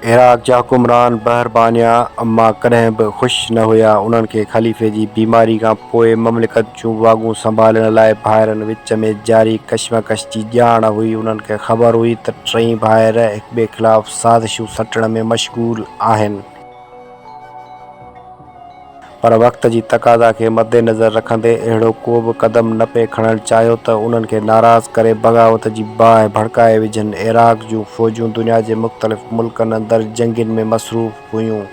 Iraq جا حڪمران بحر بانيا مان ڪڏهن به خوش نه هيا. انهن کي خليفي جي بيماري کان پوء مملڪت جون واڳون سنڀالڻ لاء ڀائرن وچ ۾ جاري ڪشمڪش جي ڄاڻ هئي. انهن کي خبر هئي ته ٽئي ڀائر هڪٻئي خلاف سازشون سٽڻ ۾ مشغول آهن. پر وقت جي تقاضا کي مدنظر رکندي اهڙو ڪو به قدم نه پئي کڻڻ چاهيو ته انهن کي ناراض ڪري بغاوت جي باهه ڀڙڪائي وجهن. عراق جون فوجون دنيا جي مختلف ملڪن اندر جنگين ۾ مصروف هيون.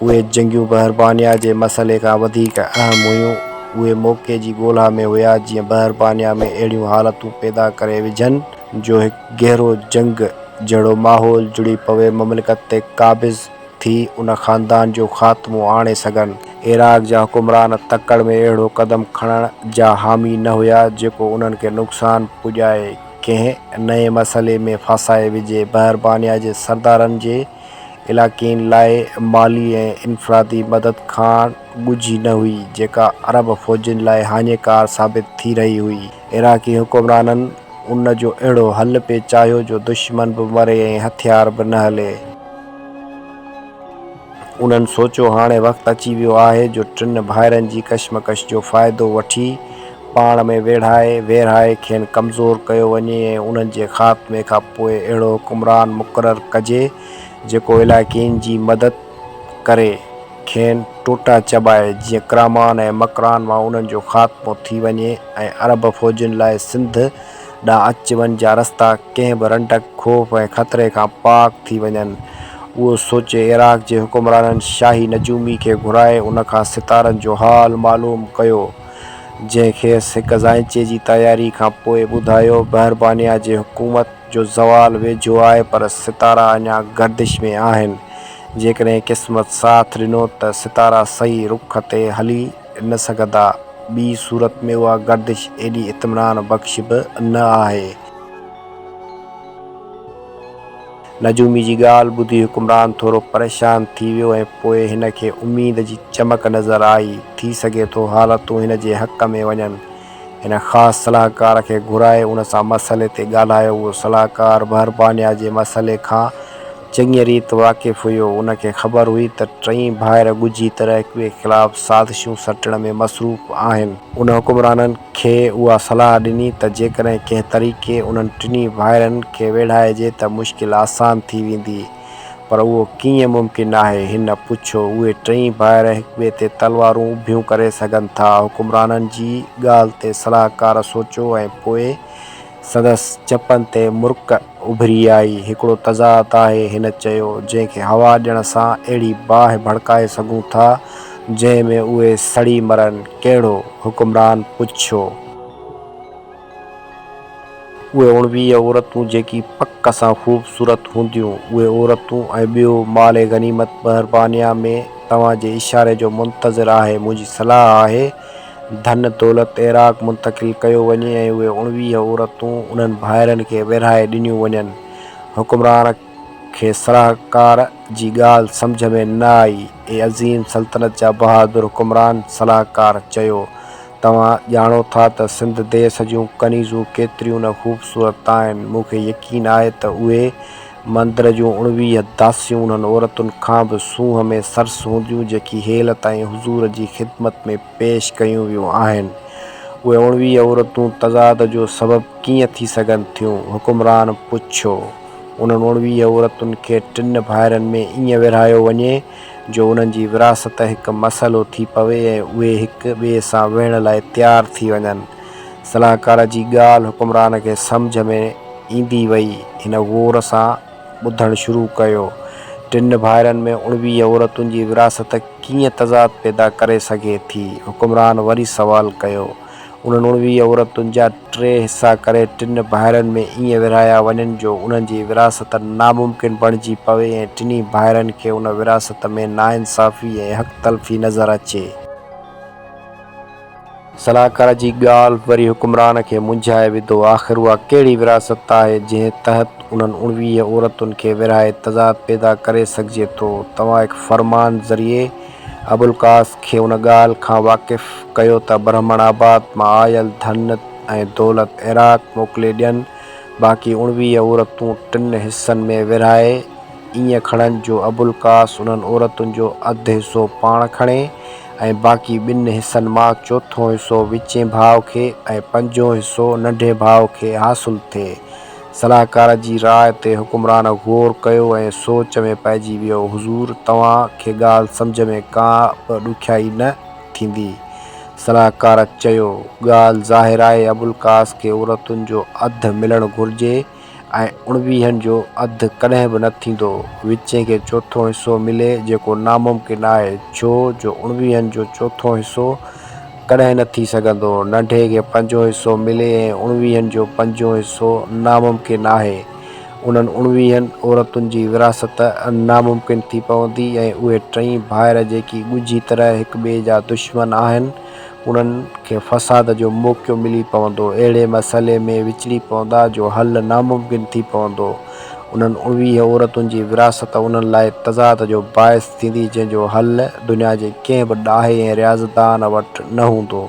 اهي جنگيون بحربانيا جي مسئلي کان وڌيڪ اهم هيون. اهي موقعي جي ڳولها ۾ هيا جيئن بحربانيا ۾ اهڙيون حالتون پيدا ڪري وجهن جو هڪ گهرو جنگ جهڙو ماحول جڙي پوي مملڪت تي قابض ٿي ان خاندان جو خاتمو آڻي سگهن. عراق جا حڪمران تڪڙ ۾ اهڙو قدم کڻڻ جا حامي نه هيا جيڪو انهن کي نقصان پڄائي ڪنهن نئين مسئلي ۾ ڦاسائي وجهي بحربانيا جي سردارن جي علاقين لاء مالي ۽ انفرادي مدد کان ڳجهي نه هئي جيڪا عرب فوجين لاء هاڃيڪار ثابت ٿي رهي هئي عراقي حڪمرانن ان جو اهڙو حل پئي چاهيو جو دشمن به مري ۽ هٿيار به نه هلي. انهن سوچيو هاڻي وقت اچي ويو آهي جو ٽن ڀائرن جي ڪشمڪش جو فائدو وٺي پاڻ ۾ ويڙهائي ويرهائي کين ڪمزور ڪيو وڃي ۽ انهن جي خاتمي کان پوء اهڙو حڪمران مقرر ڪجي جيڪو علائقين جي مدد ڪري کين ٽوٽا چٻائي جيئن ڪرامان ۽ مڪران مان انهن جو خاتمو ٿي وڃي ۽ عرب فوجين لاء سنڌ ڏانهن اچ وڃ جا رستا ڪنهن به رنڊڪ، خوف ۽ خطري کان پاڪ ٿي وڃن. اهو سوچي عراق جي حڪمرانن شاهي نجومي کي گهرائي ان کان ستارن جو حال معلوم ڪيو، جنهن کيس هڪ زائنچي جي تياري کان پوء ٻڌايو، بحربانيا جي حڪومت جو زوال ويجهو آهي پر ستارا اڃا گردش ۾ آهن، جيڪڏهن قسمت ساٿ ڏنو ته ستارا صحيح رخ تي هلي نه سگهندا، ٻي صورت ۾ اها گردش ايڏي اطمينان بخش به نه آهي. نجومي جي ڳالهه ٻڌي حڪمران ٿورو پريشان ٿي ويو ۽ پوء هن کي اميد جي چمڪ نظر آئي، ٿي سگهي ٿو حالتون هن جي حق ۾ وڃن. هن خاص صلاحڪار کي گهرائي ان سان مسئلي تي ڳالهايو. اهو صلاحڪار بهربانيا جي مسئلي کان چڱيء ريت واقف هيو. ان کي خبر هئي ته ٽئي ڀائر ڳجهي طرح هڪٻئي خلاف سازشون سٽڻ ۾ مصروف آهن. ان حڪمرانن کي اها صلاح ڏني ته جيڪڏهن ڪنهن طريقي انهن ٽنهي ڀائرن کي ويڙهائجي ته مشڪل آسان ٿي ويندي. پر اهو ڪيئن ممڪن آهي؟ هن پڇيو. اهي ٽئي ڀائر هڪ ٻئي تي تلوارون اڀيون ڪري سگهن ٿا؟ حڪمرانن جي ڳالهه تي صلاحڪار سوچيو ۽ پوء سندس چپن تي مرڪ اڀري آئي. هڪڙو تضاد آهي، هن چيو، جنهن کي هوا ڏيڻ سان اهڙي باهه ڀڙڪائي سگهون ٿا، جنهن ۾ اهي سڙي مرن. ڪهڙو؟ حڪمران پڇيو. اهي اوڻويهه عورتون جيڪي پڪ سان خوبصورت هونديون، اهي عورتون ۽ ٻيو مال غنيمت مهربانيان ۾ توهان جي اشاري جو منتظر آهي، منهنجي صلاح آهي ڌن دولت عراق منتقل ڪيو وڃي ۽ اهي اوڻويهه عورتون انهن ڀائرن کي ورهائي ڏنيون وڃن. حڪمران کي صلاحڪار جي ڳالهه سمجهه ۾ نه آئي. اي عظيم سلطنت جا بهادر حڪمران صلاحڪار چيو توهان ڄاڻو ٿا ته سنڌ ديس جون ڪنيزون ڪيتريون نه خوبصورت آهن. مون کي يقين آهي ته اهي مندر جون اڻويهه داسيون انهن عورتن کان به سونهن ۾ سرس هونديون جيڪي هيل تائين حضور جي خدمت ۾ پيش ڪيون ويون آهن. اهي اڻويهه عورتون تضاد جو سبب ڪيئن ٿي سگهن ٿيون؟ حڪمران پڇيو. انهن اڻويهه عورتن کي ٽن ڀائرن ۾ ائين ورهايو وڃي جو انهن جي وراثت هڪ مسئلو ٿي پوي ۽ اهي هڪ ٻئي سان ويهڻ لاء تيار ٿي وڃن. صلاحڪار جي ڳالهه حڪمران کي سمجهه ۾ ايندي وئي. هن غور سان ٻڌڻ شروع ڪيو. ٽن ڀائرن ۾ اڻويهه عورتن جي وراثت ڪيئن تضاد پيدا ڪري سگهي ٿي؟ حڪمران وري سوال ڪيو. انهن اڻويهه عورتن جا ٽي حصا ڪري ٽن ڀائرن ۾ ائين ورهايا وڃن جو انهن جي وراثت ناممڪن بڻجي پوي ۽ ٽنهي ڀائرن کي ان وراثت ۾ ناانصافي ۽ حق تلفي نظر اچي. صلاحڪار جي ڳالهه وري حڪمران کي منجهائي وڌو. آخر اها ڪهڙي وراثت آهي جنهن تحت انهن اڻويهه عورتن کي ورهائي تضاد پيدا ڪري سگهجي ٿو. توهان هڪ فرمان ذريعي. ابوالقاس کي ان ڳالهه کان واقف ڪيو ته برهمڻ آباد مان آيل ڌن ۽ دولت عراق موڪلي ڏين، باقي اڻويهه عورتون ٽن حصن ۾ ورهائي ائين کڻن جو ابوالقاس انهن عورتن جو اڌ حصو پاڻ کڻي ۽ باقي ٻن حصن مان چوٿون حصو وچين ڀاء کي ۽ پنجون حصو ننڍين ڀاء کي حاصل ٿئي. صلاحڪار جي راء تي حڪمران غور ڪيو ۽ سوچ ۾ پئجي ويو. حضور، توهان کي ڳالهه سمجهه ۾ ڪا به ڏکيائي نه ٿيندي. صلاحڪار چيو، ڳالهه ظاهر آهي ابوالقاس کي عورتن جو اڌ ملڻ گهرجي ۽ اڻويهن جو اڌ ڪڏهن به نه ٿيندو. وچين کي چوٿون حصو ملي جيڪو ناممڪن آهي ڇو جو اڻويهن جو چوٿون حصو ڪڏهن نه ٿي سگهندو. ننڍي کي پنجون حصو ملي ۽ اڻويهن جو پنجون حصو ناممڪن آهي. انهن اڻويهن عورتن جي ورهاست ناممڪن ٿي پوندي ۽ اهي ٽئي ڀائر جيڪي ڳجهي طرح هڪ ٻئي جا دشمن آهن، انهن کي فساد جو موقعو ملي پوندو. اهڙي مسئلي ۾ وچڙي پوندا جو حل ناممڪن ٿي پوندو. انهن اڻويهه عورتن جي ورهاست انهن لاء تضاد جو باعث. ٿيندي جنهن جو حل دنيا جي ڪنهن به ڏاهي ۽ رياضتدان وٽ نه هوندو.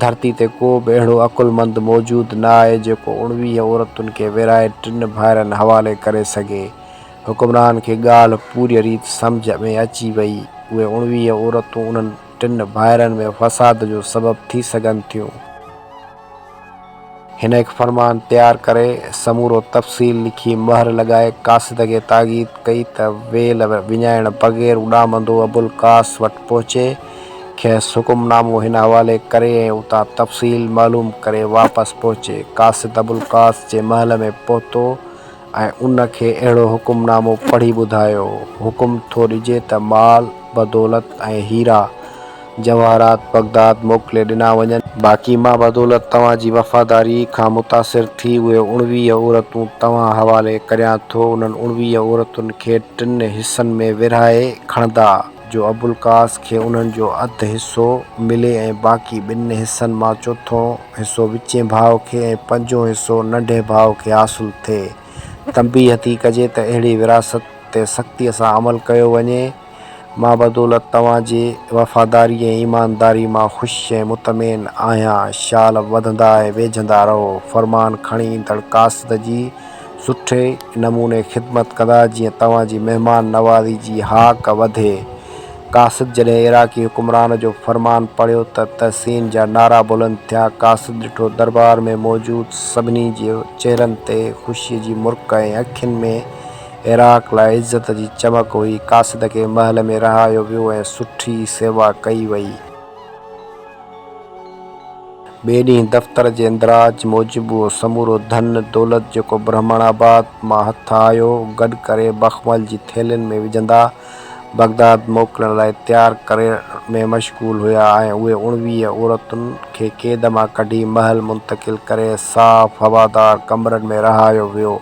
ڌرتي تي ڪو به اهڙو عقلمند موجود نه آهي جيڪو اڻويهه عورتن کي ورهائي ٽن ڀائرن حوالي ڪري سگهي. حڪمران کي ڳالهه پوريء ريت سمجهه ۾ اچي ويئي. اهي اڻويهه عورتون انهن ٽن ڀائرن ۾ فساد جو سبب ٿي سگهن ٿيون. هن هڪ فرمان تيار ڪري، سمورو تفصيل لکي، مهر لڳائي، قاصد کي تاڪيد ڪئي ته ويل وڃائڻ بغير اڏامندو ابوالقاس وٽ پهچي، کيس حڪم نامو هن حوالي ڪري ۽ اتان تفصيل معلوم ڪري واپس پهچي. قاصد ابوالقاس جي محل ۾ پهتو. ۽ ان کي اهڙو حڪم نامو پڙهي ٻڌايو. حڪم ٿو ڏجي ته مال بدولت ۽ هيرا جواهرات بغداد موڪلي ڏنا وڃن. باقي مان بدولت توهان جي وفاداريء کان متاثر ٿي اهي اڻويهه عورتون توهان حوالي ڪريان ٿو. انهن اڻويهه عورتن کي ٽن حصن ۾ ورهائي کڻندا، جو ابوالقاس کي انهن جو اڌ حصو ملي ۽ باقي ٻن حصن مان چوٿون حصو وچين ڀاء کي ۽ پنجون حصو ننڍي ڀاء کي حاصل ٿئي. تنبيهه ٿي ڪجي ته اهڙي ورهاست تي سختيء سان عمل ڪيو وڃي. مان بدولت توهان جي وفاداري ۽ ايمانداري مان خوش ۽ مطمئن آهيان. شال وڌندا ۽ ويجهندا رهو. فرمان کڻي ايندڙ قاصد جي سٺي نموني خدمت ڪندا جيئن توهان جي مهمان نوازي جي هاڪ وڌي. قاصد جڏهن عراقي حڪمران جو فرمان پڙهيو ته تحسين جا نعرا بلند ٿيا. قاصد ڏٺو دربار ۾ موجود سڀني جي چهرن تي خوشيء جي مرڪ ۽ اکين ۾ عراق لاء عزت جي چمڪ هئي. قاصد کي محل ۾ رهايو ويو ۽ سٺي سيوا ڪئي وئي. ٻئي ڏينهن دفتر جي اندراج موجب اهو سمورو ڌن دولت جيڪو برهمڻ آباد مان هٿ آيو، گڏ ڪري بخمل جي ٿيلهين ۾ وجهندا. بغداد موڪلڻ لاء تيار ڪرڻ ۾ مشغول هيا ۽ اهي اڻويهه عورتن کي قيد مان ڪڍي محل منتقل ڪري صاف هوادار ڪمرن ۾ رهايو ويو.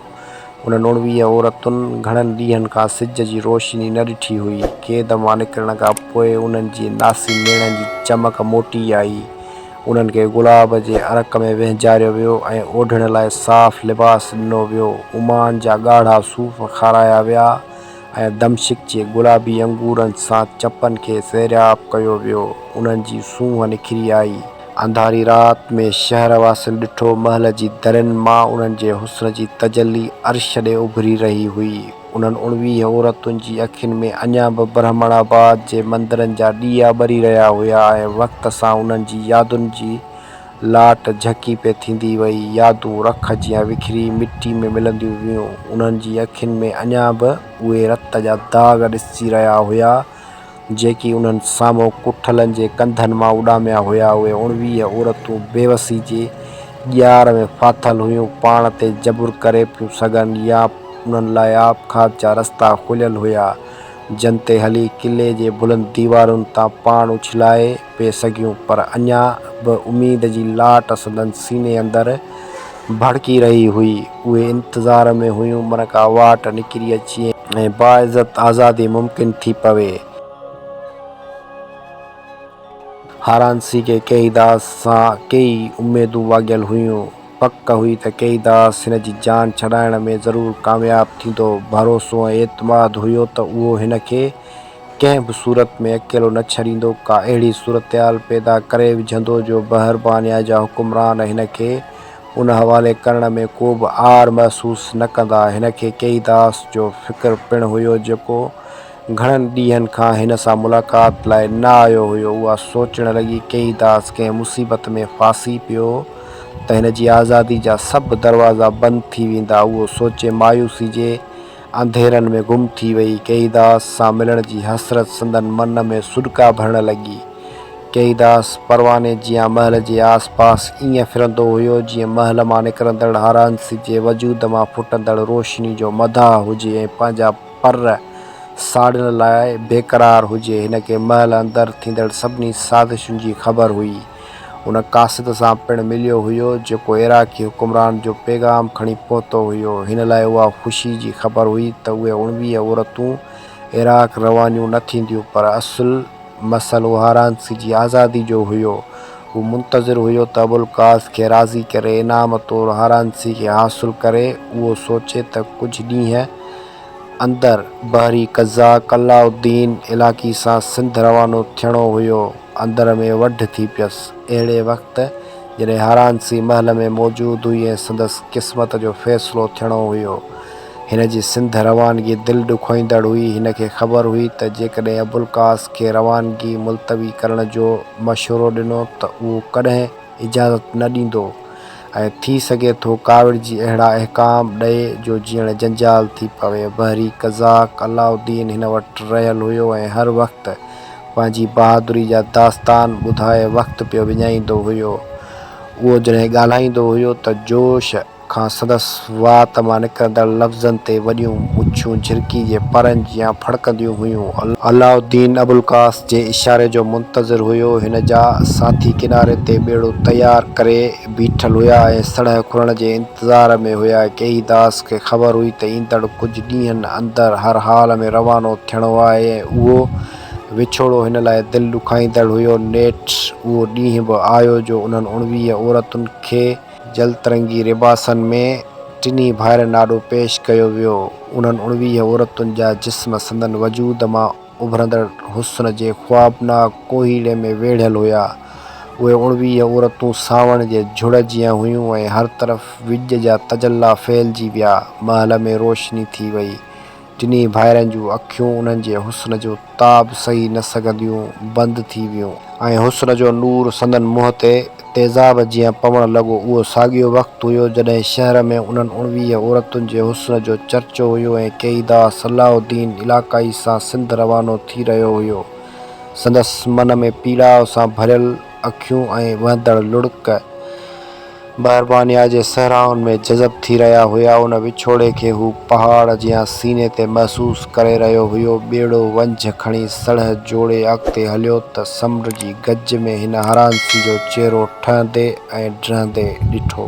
انهن اڻويهه عورتن گهڻن ڏينهن کان سج جي روشني نه ڏٺي هئي. قيد مان نڪرڻ کان پوء انهن جي ناسي نيڻن جي چمڪ موٽي آئي. انهن کي گلاب جي عرق ۾ وهنجاريو ويو ۽ اوڍڻ لاء صاف لباس ڏنو ويو. عمان جا ڳاڙها صوف کارايا ويا ۽ ۽ دمشق جي گلابي انگورن سان چپن کي سيراب ڪيو ويو، انهن جي سونهن نکري آئي. انڌاري رات ۾ شهر واسين ڏٺو، محل جي درين مان انهن جي حسن جي تجلي عرش ڏي اڀري رهي هئي. انهن اڻويهه عورتن جي اکين ۾ اڃا به برهمڻ آباد جي مندرن جا ڏيئا ٻري رهيا هيا ۽ وقت سان انهن جي يادن جي لاٽ جهڪي پئي ٿيندي وئي، يادون رک جيان وکري مٽي ۾ ملنديون ويون، انهن جي اکين ۾ اڃا به اهي رت جا داغ ڏسجي رهيا هيا، جيڪي انهن سامهون ڪٺلن جي ڪنڌن مان اڏاميا هيا، اهي اڻويهه عورتون بيوسي جي ڄار ۾ ڦاٿل هيون، پاڻ تي جبر ڪري پيون سگهن يا انهن لاء آپگهات جا رستا کليل هيا، جن تي هلي قلعي جي بلند ديوارن تان پاڻ اڇلائي. پئي سگهيون پر اڃا به اميد جي لاٽ سندن سيني اندر ڀڙڪي رهي هئي. اهي انتظار ۾ هيون من ڪا واٽ نڪري اچي ۽ باعزت آزادي ممڪن ٿي پوي. هارانسي کي ڪيئيداس سان ڪيئي اميدون واڳيل هيون. پڪ هئي ته ڪيئيداس هن جي جان ڇڏائڻ ۾ ضرور ڪامياب ٿيندو. ڀروسو ۽ اعتماد هيو ته اهو هن کي ڪنهن به صورت ۾ اڪيلو نه ڇڏيندو، ڪا اهڙي صورتحال پيدا ڪري وجهندو جو بحربانيا جا حڪمران هن کي ان حوالي ڪرڻ ۾ ڪو به عار محسوس نه ڪندا. هن کي ڪيئي داس جو فڪر پڻ هيو جيڪو گهڻن ڏينهن کان هن سان ملاقات لاء نه آيو هيو، اها سوچڻ لڳي ڪيئي داس ڪنهن مصيبت ۾ ڦاسي پيو ته هن جي آزادي جا سڀ دروازا بند ٿي ويندا، اهو سوچي مايوسي جي انڌيرن ۾ گم ٿي وئي. ڪيئيداس سان ملڻ جي حسرت سندن من ۾ سڏڪا ڀرڻ لڳي. ڪيئيداس پرواني جيان محل جي آس پاس ائين ڦرندو هيو جيئن محل مان نڪرندڙ هارانس جي وجود مان ڦٽندڙ روشني جو مداح هجي ۽ پنهنجا پر ساڙڻ لاء بيقرار هجي. هن کي محل اندر ٿيندڙ سڀني سازشن جي خبر هئي. ان قاصد سان پڻ مليو هيو، جيڪو عراقي حڪمران جو پيغام کڻي پهتو هيو. هن لاء اها خوشي جي خبر هئي ته اهي اڻويهه عورتون عراق روانيون نه ٿينديون، پر اصل مسئل اوهارانسي جي آزادي جو هيو. هو منتظر هيو ته ابوالقاص کي راضي ڪري انعام طور هارانسي کي حاصل ڪري. اهو سوچي ته ڪجهه ڏينهن اندر. بحري قزاق علاء الدين علاقي سان سنڌ روانو ٿيڻو هيو. اندر ۾ وڍ ٿي پيس. اهڙي وقت جڏهن هارانسي محل ۾ موجود هئي ۽ سندس قسمت جو فيصلو ٿيڻو هيو. هن جي سنڌ روانگي دل ڏکوئيندڙ هئي. هن کي خبر هئي ته جيڪڏهن ابوالقاس کي روانگي ملتوي ڪرڻ جو مشورو ڏنو ته اهو ڪڏهن اجازت نه ڏيندو ۽ ٿي سگهي ٿو ڪاوڙجي اهڙا احڪام ڏئي جو جيئڻ جنجال ٿي پوي. بحري قزاق علاؤالدين هن وٽ رهيل هيو ۽ هر وقت پنهنجي بهادري جا داستان ٻڌائي وقت پيو وڃائيندو هيو. اهو جڏهن ڳالهائيندو هيو ته جوش کان سندس وات مان نڪرندڙ لفظن تي وڏيون مڇون جهرڪي جي پرن جيان ڦڙڪنديون هيون. علاء الدين ابوالقاس جي اشاري جو منتظر هيو. هن جا ساٿي ڪناري تي ٻيڙو تيار ڪري. بيٺل هيا ۽ سڻهه کلڻ جي انتظار ۾ هيا. ڪيئي داس کي خبر هئي ته ايندڙ ڪجهه ڏينهن اندر هر حال ۾ روانو ٿيڻو آهي ۽ اهو وڇوڙو هن لاء دل ڏکائيندڙ هيو. نيٺ اهو ڏينهن به آيو جو انهن اڻويهه عورتن کي. جلترنگي لباسن ۾ ٽنهي ڀائرن آڏو پيش ڪيو ويو. انهن اڻويهه عورتن جا جسم سندن وجود مان. اڀرندڙ حسن جي خوابناڪ ڪوهيڙي ۾ ويڙهيل هيا. اهي اڻويهه عورتون سانوڻ جي جھڙ جيان هيون ۽ هر طرف وڄ جا تجلا ڦهلجي ويا. محل ۾ روشني ٿي وئي. ٽنهي ڀائرن جون اکيون انهن جي حسن جو تاب سهي نه سگهنديون بند ٿي ويون. ۽ حسن جو نور سندن منهن تي تيزاب جيئن پوڻ لڳو. اهو ساڳيو وقت هيو، جڏهن شهر ۾ انهن اڻويهه عورتن جي حسن جو چرچو هيو ۽ ڪيدا صلاح الدين علاقائي سان سنڌ روانو ٿي رهيو هيو. سندس من ۾ پيڙاء سان ڀريل اکيون ۽ وهندڙ لڙڪ، مهربانيا جي صحرائن ۾ جذب ٿي رهيا هيا. ان وڇوڙي کي هو پهاڙ جيان سيني تي محسوس. ڪري رهيو هيو. ٻيڙو ونجهه کڻي سڙهه جوڙي اڳتي هليو ته سمنڊ جي گج ۾ هن هرانسي جو چهرو ٺهندي ۽ ڊهندي ڏٺو.